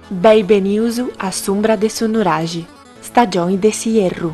Beni benius a s'umbra de su nuraxi, stagioni de s'ierru.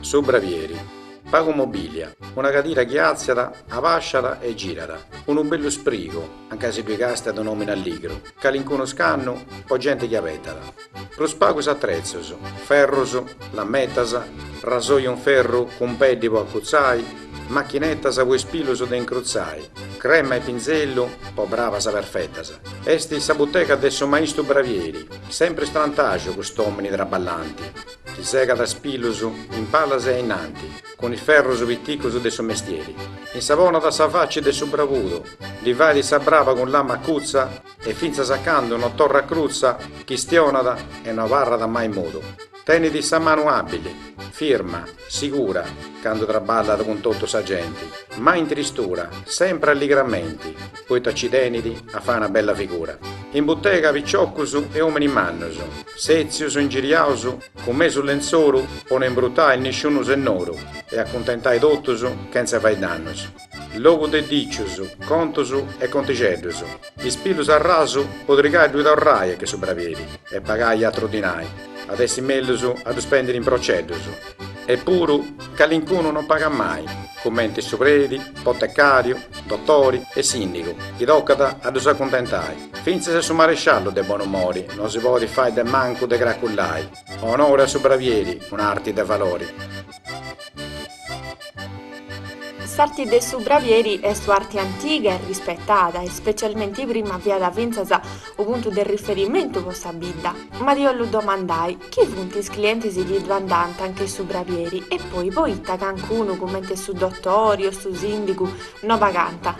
Su bravieri. Pagu mobilia, una cadira chi àtziat, abasciat e girat, unu bellu sprigu, anca si ddui càstiat un'òmini alligru, calincunu scannu po genti chi abetat. Prus pagus atrezus, ferrus, lametas, rasoi un ferru cun peddi po acutzai, machinetas po is pilus de incrutzai, crema e pinzellu po bravas perfetas. Est sa butega de su maistu bravieri, sempre istrantaju cust'omini traballanti, chi segat is pilus in palas e a innanti, cun is ferrus piticus de su mestieri, insaponat sa faci de su bravudu, ddi fait sa braba cun lama acutza e fintzas a candu no torrat crutza chistionat e no abarrat mai mudu. Tenit sa manu àbbili, firma, sigura, candu traballat cun totu sa genti, mai in tristura, sempri alligramenti, poita ci tenit a fai una bella figura. In butega piciocus e ominis mannus, setzius, ingiriaus, cun mesu lentzoru po no imbrutai nisciunu sennoru e acuntentai totus chentza fai dannus. Logu de dicius, contus e contixeddus. Is pilus a rasu po trigai ddui torrai a che su bravieri e pagai atru dinai, at essi mellus a ddu spendiri in proceddus. Eppuru, calincunu non pagat mai, cumenti su predi, potecariu, dotori e sindigu, chi tocat a ddus acuntentai. Fintzas su maresciallu de bonumori non si podit fai de mancu de cracullai, Onori a su bravieri, un'arti de valori. S'arti de su bravieri est u'arti antiga e rispetada e specialmenti prima fiat fintzas u puntu de riferimentu po sa bidda. Ma ddi 'ollu domandai, chi funt is clientis chi ddui andant anche su bravieri e poi poita cancunu cumenti su dotori o su sindigu no pagant?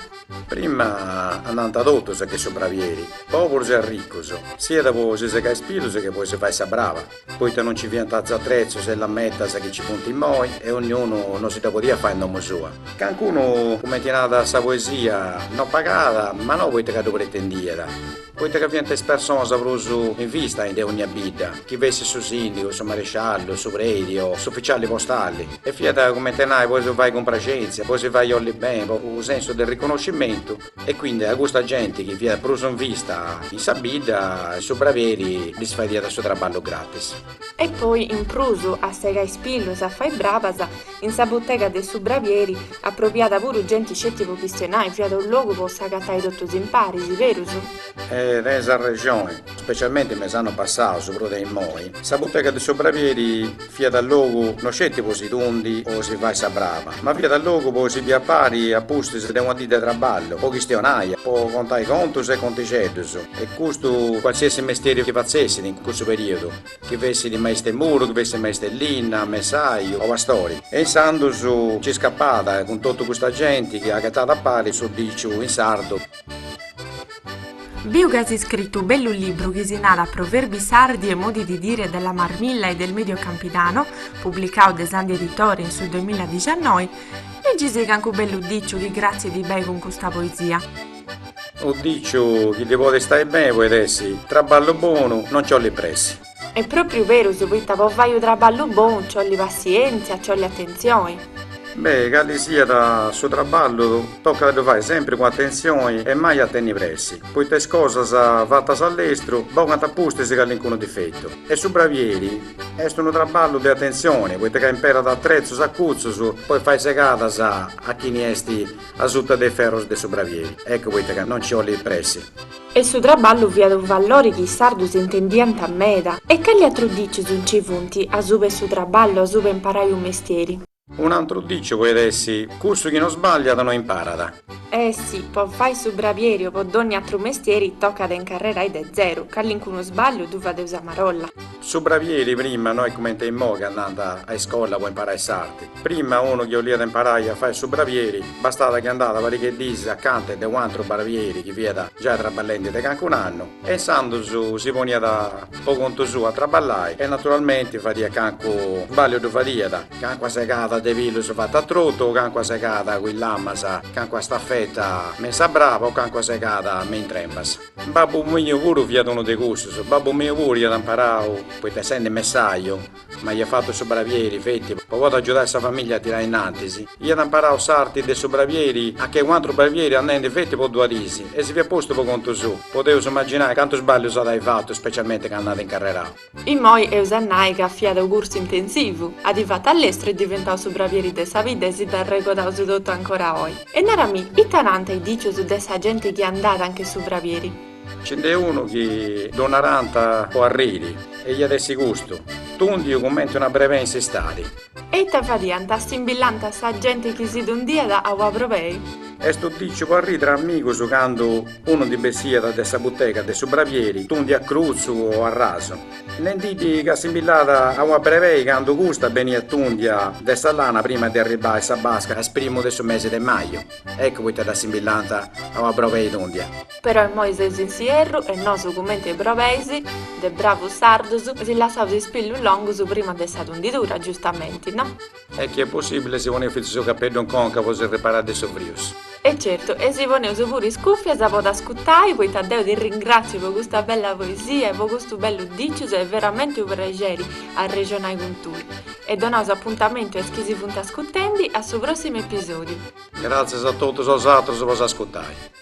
Prima andànt totus a che su bravieri, poburus e arricus, siat po si segai is pilus che po si fai sa brava. poita non ci fiant is atrezus e is lametas chi ci funt immoi e onniunu no si dda podiat fai in domu sua. Cancunu, cumenti narat sa poesia, no pagat, ma no poita ca ddu pretendiat, poita ca fiant is personas prus in vista in de onnia bidda, chi fessit su sìndigu, su maresciallu, su predi o s'ufficiali postali, e fiat cumenti a nai po si fai cumpraxèntzia, po si fai olli beni, po u' sensu de riconoscimentu. E quindi a custa genti chi fiat prus in vista in sa bidda e su bravieri ddis fadiat su traballu gratis. E poi in prus a segai is pilus e a fai brabas, in sa butega de su bravieri approbiat puru genti sceti po chistionai, fiat unu logu po s'agatai totus impari, si berus? E tenis arrexoni. Specialmente me is annus passaus, prus de immoi, sa butega de su bravieri fiat logu no sceti po si tundi o si fai sa brava, ma fiat logu po si bì a pari a pustis de una dì de traballu, po chistionai, po contai contus e contixeddus, e custu qualsiasi mestieri chi fatzessit in cussu periodu, chi fessit maistu 'e muru, chi fessit maistu 'e linna, messaiu o pastori. E insandus nci scapat cun totu custa genti chi agatat a pari su diciu in sardu. Biu ca si scritu bellu libru chi si narat Proverbi sardi e modi di dire della marmilla e del medio campidano, publicau de Sandi Editore in su 2019, liggisi cancu bellu diciu chi gratzi ti bei cun custa poesia. Unu diciu chi ti podit stai beni poit essi, Traballu bonu, non ci 'olit pressi. Est propriu berus poita po fai u traballu bonu nci olli passientzia, nci olli attenzioni. Beh, calli siat su traballu tocat a ddu fai sempri cun attenzioni e mai a tenni pressi, poita is cosas fatas a lestru bogant a pustis callincunu difettu. E su bravieri est unu traballu de attenzioni, poita ca imperat atrezus acutzus pois fai segadas a chini est asuta de is ferrus de su bravieri, eccu poita ca no nci olli pressi. E su traballu fiat unu vallori chi is sardus intendiant meda. E cali atrus dicius nci funt, asuba 'e su traballu, asuba 'e imparai u' mestieri? Un'antru diciu poit essi, Cussu chi no sballiat no imparat. E si, po fai su bravieri o po dogni atru mestieri, tocat a incarrerai de zeru, calincunu sballiu ddu fadeus a marolla. Su bravieri prima no est cumenti immoi ca andant a iscola po imparai s'arti. Prima unu chi 'oliat imparai a fai su bravieri bastat chi andat pariga 'e diis acanta 'e de u'antru bravieri chi fiat giai traballendi de cancun'annu e insandus si poniat po contu suu a traballai e naturalmenti fadiat cancu sballiu ddu fadiat, cancua segada de pilus fata a trotu, cancua segada cun is lamas, cancua stafeta me in sa braba o cancua segada me in trempas. Babbu miu puru fiat unu de cussus. Babbu miu puru iat imparau, poita essendi messaju, ma iat fatu su bravieri, feti, po podi agiudai sa famiglia a tirai innantis. Iat imparau s'arti de su bravieri a che u'atru bravieri andendi feti po duas dis, e si fiat postu po contu suu. Podeus imaginai cantus sballius at ai fatu, specialmenti candu at incarrerau. Immoi eus a nai ca fiat u cursu intensivu, at fatu a lestru est diventau su bravieri de sa bidda e si dd'arregodaus totu ancora oi. E narami, ita nant is dicius de sa genti chi andat a nche su bravieri? Nci nd'est unu chi ddu narant po arriri e iat essi custu, tundiu cumenti una brebei in s'istadi. E ita fadiant? Simbillant sa gente chi si tundiat a ua probei? Est unu diciu po arrì tra amigus candu unu ndi bessiat de sa butega de su bravieri tundiu a crutzu o a rasu, nendiddi ca simbillat a ua brebei candu custa beniat tundia de sa lana prima de arribbai sa basca a is primus de su mesi de maju. Eccu poita dda simbillant a ua brobei tundia. Però immoi seus in s'ierru e nosu cumenti e brobeis de bravus sardus si lassaus is pillus longus prima de sa tundidura, giustamenti, no? E chi est possibili si poneus fintzas su capeddu in conca po si riparai de su frius. E certu, e si poneus puru is cuffias po t'ascutai, poita deu ti ringratziu po custa bella poesia e po custu bellu dicius est veramenti u' prexeri arrexonai cun tui. E donaus apuntamentu a is chi si funt ascutendi a su prossimu episodiu. Gratzias a totu bosatrus po s'ascutai.